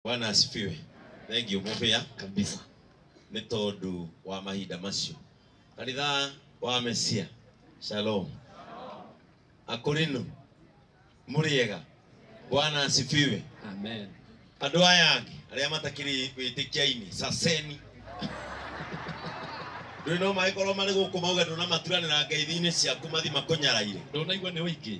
Bwana asifiwe. Thank you mũbĩa kabisa, nĩ tondũ wa mahinda macio kanitha wa Mesia. Shalom akorinu mũrĩega. Bwana asifiwe. Amen. Andũ aya angĩ arĩa matakĩrĩ wĩtĩkia-inĩ caceni ndũĩ no magĩkorwo marĩ gũkũ mauga ndũnamaturanĩra ngeithi-inĩ ciaku mathi makũnyaraire. Ndonaigua nĩ ũingĩ.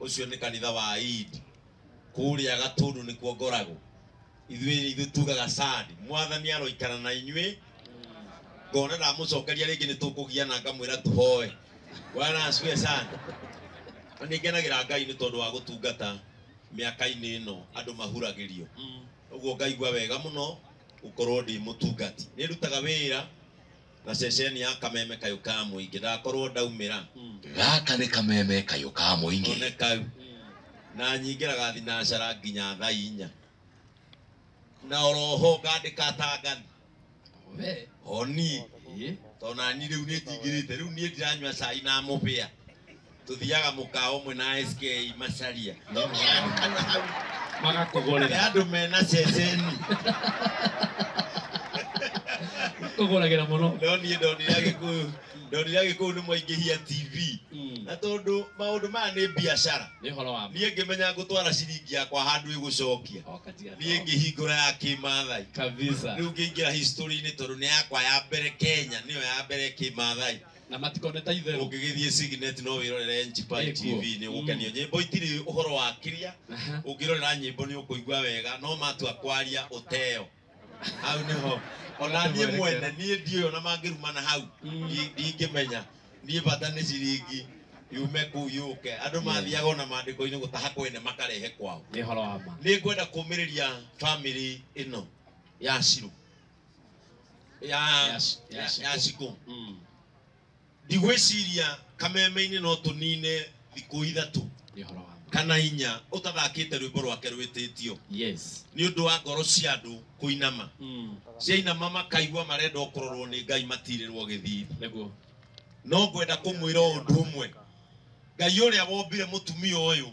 ucio ni kanitha wa Eid kuria gatundu ni kuo ngoragwo ithuĩ ithuĩ tugaga sad mwathani aroikara na inyuĩ ngona ndamucokeria rĩngĩ nĩ tũkũgiana ngamwĩra tuhoe bwana asifiwe sana na nĩ ngenagĩra ngai nĩ tondũ wa gũtungata mĩaka-inĩ ĩno andũ mahuragĩrio ũguo ngaigua wega mũno gũkorwo ndĩ mũtungati nĩ ndutaga wĩra Gaceceni ya kameme kayũ ka mũingĩ ndakorwo ndaumĩra. Gaka nĩ kameme kayũ ka mũingĩ. One kau. Na nyingĩra ga thinacara nginya thaa inya. Na oroho ngandĩka ta ngani. We. Oni. Ĩĩ. Tondũ nani rĩu nĩ njingĩrĩte. Rĩu niĩ ndiranyua cai na mũbĩa. tuthiaga mũkawa ũmwe na SK Macharia Tũkĩandĩkana hau nĩ magakũgũrĩra andũ mena ceceni kũgũragĩra mũno no niĩ ndonire agĩkũyũ ndonire agĩkũyũ nĩ mwaingĩhia TV Mm, na tondũ maũndũ maya nĩ biacara nĩ ũhoro wa niĩ ngĩmenya ngũtwara ciringi yakwa handũ ĩgũcokia niĩ ngĩhingũra ya kĩmathai kabisa rĩu ngĩingĩra history-inĩ tondũ nĩ yakwa ya mbere kenya nĩyo ya mbere kĩmathai na matikone ta itherũ ũngĩgĩthiĩ signet no wĩrorere njipai Ĩkuo. tv nĩ ũgũkenio Mm. nyĩmbo itirĩ ũhoro wa kĩria Aha. ũngĩrorera nyĩmbo nĩ ũkũigua wega no matua kwaria ũteo hau nĩho ona niĩ Ũtũmwerekera. mwene niĩ ndiũĩ ona mangĩrumana hau Mm. ndi- ndingĩmenya niĩ bata nĩ ciringi yume kuu yũke andũ mathiaga ona maandĩko-inĩ gũtaha kwene makarehe kwao nĩ ũhoro wa ma nĩ ngwenda kũmĩrĩria bamĩrĩ ĩno ya cirũ ya ya ya ya ciko Mm. ndigwĩciria kameme-inĩ no tũnine thikũ ithatũ Nĩ ũhoro wa ma. kana inya ũtathakĩte rwĩmbo rwake rwĩtĩtio Yes. nĩ ũndũ wa ngoro cia andũ kũinama Mm. ciainama makaigua marenda kũrorwo nĩ ngai matirĩrwo gĩthithi Nĩguo. no ngwenda kũmwĩra ũndũ ũmwe ngai ũrĩa wombire mũtumia ũyũ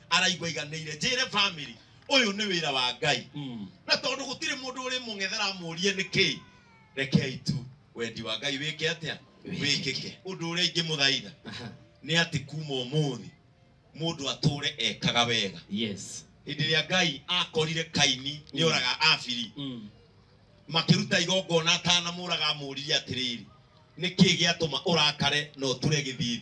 araigua iganĩire njĩre family ũyũ nĩ wĩra wa ngai Mm. na tondũ gũtirĩ mũndũ ũrĩ mũng'ethera amũrie nĩkĩ rekei tu wendi wa ngai wĩke atĩa wĩkĩke ũndũ ũrĩa ingĩmũthaitha Aha. nĩ atĩ kuma ũmũthĩ mũndũ atũre ekaga wega Yes. hĩndĩ ĩrĩa ngai akorire kaini nĩ oraga abiri Mm. makĩruta igongona atanamũraga amũrire atĩrĩrĩ nĩkĩ gĩatũma ũrakare na ũture gĩthithi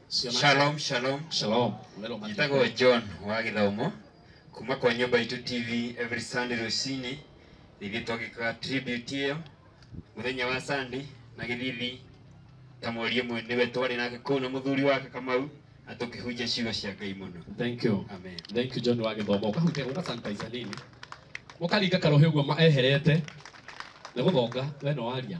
Shalom, shalom. Shalom. Njĩtagwo John wa gĩthomo kuma kwa nyũmba itũ TV every Sunday rũcinĩ ithuĩ twagĩkaga tribute ĩyo mũthenya wa Sunday na gĩthithi ta mweri ũmwe nĩwe twarĩ nake kũu na mũthuri wake Kamau na tũkĩhunjia ciugo cia Ngai mũno. Thank you. Amen. Thank you John wa gĩthomo. Ũkahunjia ũga sanitizer nini. Ũkaringa karohe ũguo ma- eherete. Nĩ gũthonga we no waria.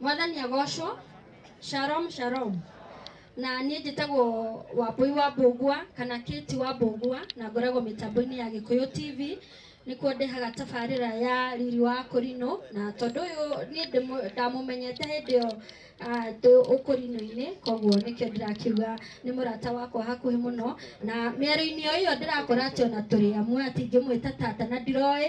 mwathani agocwo shalom shalom na niĩ njĩtagwo wambũi wa mbũngua kana kĩti wa mbũngua na ngoragwo mĩtambo-inĩ ya gĩkũyũ tv nĩkuo ndehaga tabarĩra ya riri wa kũrinũ na tondũ ũyũ niĩ ndĩmũ- ndamũmenyete hĩndĩ ĩyo ah, ndĩ ũkũrinũ-inĩ koguo nĩkĩo ndĩrakiuga nĩ mũrata wakwa hakuhĩ mũno na mĩario-inĩ o ĩyo ndĩrakora atĩ ona tũrĩ amwe atingĩmwĩta tata na ndiroĩ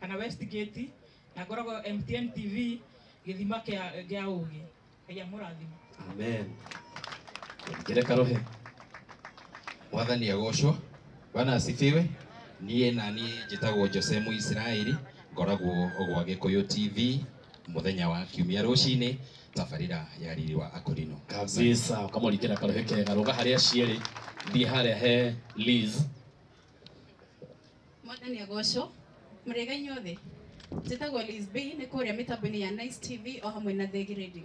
kana Westgate na ngoragwo MTN TV gĩthima kĩa gĩa ũgĩ Ngai amũrathima amen njĩre karohe mwathani agocwo bwana asifiwe niĩ na niĩ njĩtagwo jose mũisiraeli ngoragwo gwa gĩkũyũ tv mũthenya wa kiumia rũcinĩ tabarĩra ya riri wa akorino kabisa ukamurikira karohe kega ruga haria cierĩ thiĩ harĩa he liz Mwathani agocwo mũrĩega inyuothe njĩtagwo Liz B nĩ kũrĩa mĩtambo-inĩ ya Nice TV o hamwe na Thegi Radio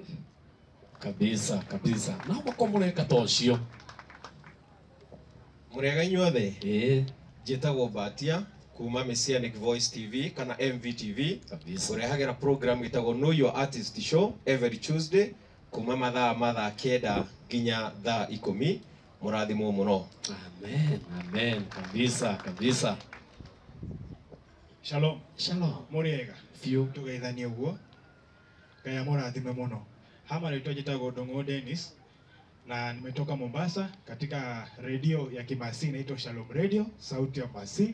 kabisa kabisa na moko mũreka ta ũcio mũrĩega inyuothe ĩĩ njĩtagwo mbatia kuma messianic voice tv kana mvtv kabisa ũrehagĩra program ĩtagwo know your artist show every tuesday kuma mathaa ma thaa kenda nginya thaa ikũmi mũrathimwo mũno Amen, amen, kabisa, kabisa. Shalom. Shalom. Mũrĩega. Biũ. Tũgeithanie ũguo. Ngai amũrathime mũno. Hama rĩtwa njĩtagwo Ndung'u Dennis na nimetoka Mombasa katika redio ya Kimasii inaitwa Shalom Radio, sauti ya Masii.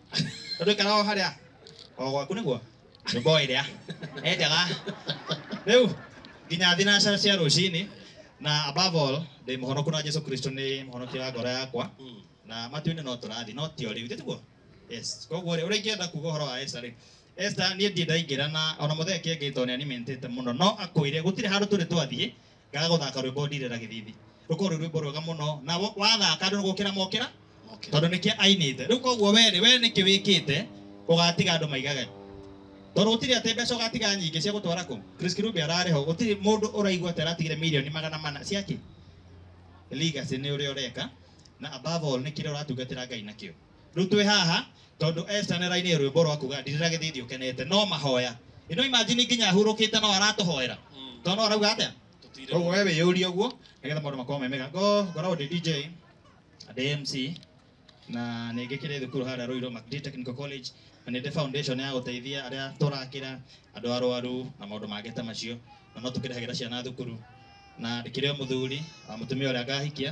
Tondũ ikara o harĩa o gwaku nĩguo nyũmba o ĩrĩa enjaga rĩu nginya thinacara cia rũcinĩ na above all ndĩ mũhonoku na Jesu Kristo nĩ mũhonokia wa ngoro yakwa Mm. na matuinĩ no tũrathi no ti o rĩu tiguo yes koguo rĩ ũrĩa ingĩenda kuga ũhoro wa Esther rĩ Esther niĩ ndiĩ ndaingĩra na ona mũthee kĩengĩ tondũ nĩ animated mũno no akwĩre gũtirĩ handũ tũrĩ twathiĩ ngaga gũthaka rwĩmbo ndirĩra gĩthithi rũkorwo rwĩ rwĩmbo rwega mũno na wo- wathaka andũ nĩgũkĩra mokĩra Okay. tondũ nĩkĩo ainĩte rĩu koguo werĩ we nĩkĩ wĩkĩte ũgatiga andũ maigage tondũ gũtirĩ atĩ mbeca ũgatiga nyingĩ cia gũtwara kũ Chris Kirubi ararĩ ho gũtirĩ mũndũ ũraigua atĩ aratigire mirioni magana mana ciakĩ legacy nĩ ũrĩa ũreka na above all nĩ kĩrĩa ũratungatĩra Ngai nakĩo Rĩu twĩ haha tondũ Esther nĩ arainire rwĩmbo rwa kuga ndirĩra gĩthithi ũkenete no mahoya. Ĩno imagine nginya ahurũkĩte no aratũhoera. Tondũ no arauga atĩa? Koguo we wĩyũrie ũguo nĩgetha maũndũ makorwo me mega. Ngo- Ngoragwo ndĩ DJ na ndĩ MC na nĩ ngĩkĩrĩ thukuru harĩa Ruiru Macdee Technical College na nĩ ndĩ foundation ya gũteithia arĩa tũrakĩra andũ arwaru na maũndũ mangĩ ta macio na no tũkĩrĩhagĩra ciana thukuru na ndĩkĩrĩ o mũthuri wa mũtumia ũrĩa ngahikia